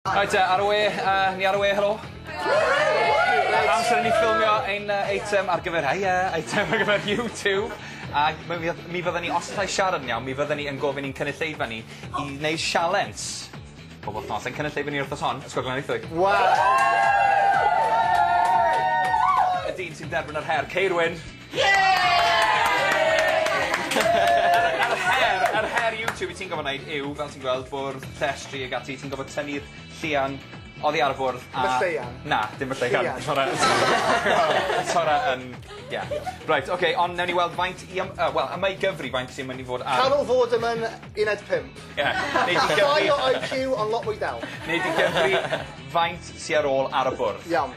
Reit te, ar y we, uh, ni ar y we, helo? Amser i ni ffilmio ein uh, eitem ar gyfer, ai, uh, eitem ar gyfer YouTube. Ac mi fydden ni, os allai siarad yn iawn, mi fydden ni yn gofyn i'n cynulleidfa ni i wneud sialens. Pob wythnos, ein cynulleidfa ni wrth os hon, Ysgol Glenithoedd. Wow! Y dyn sy'n derbyn yr her, Ceirwyn. Yr her, yr her YouTube wyt ti'n gorfod neud yw, fel ti'n gweld, bwrdd, llestri ag ati, ti'n gorfod tynnu'r llian oddi ar y bwrdd a... Dim y lleian? Na, dim y lleian. Llian. T'mo' yy t'mo' yy yn ie. Reit oce on' newn ni weld faint i yym yy wel yma i Gyfri faint sy myn' i fod ar... Cal o fod ym yn uned pump. Ie. Nei di Gyfri... Llai o IQ on' lot mwy del. Nei di Gyfri faint sy ar ôl ar y bwrdd? Iawn.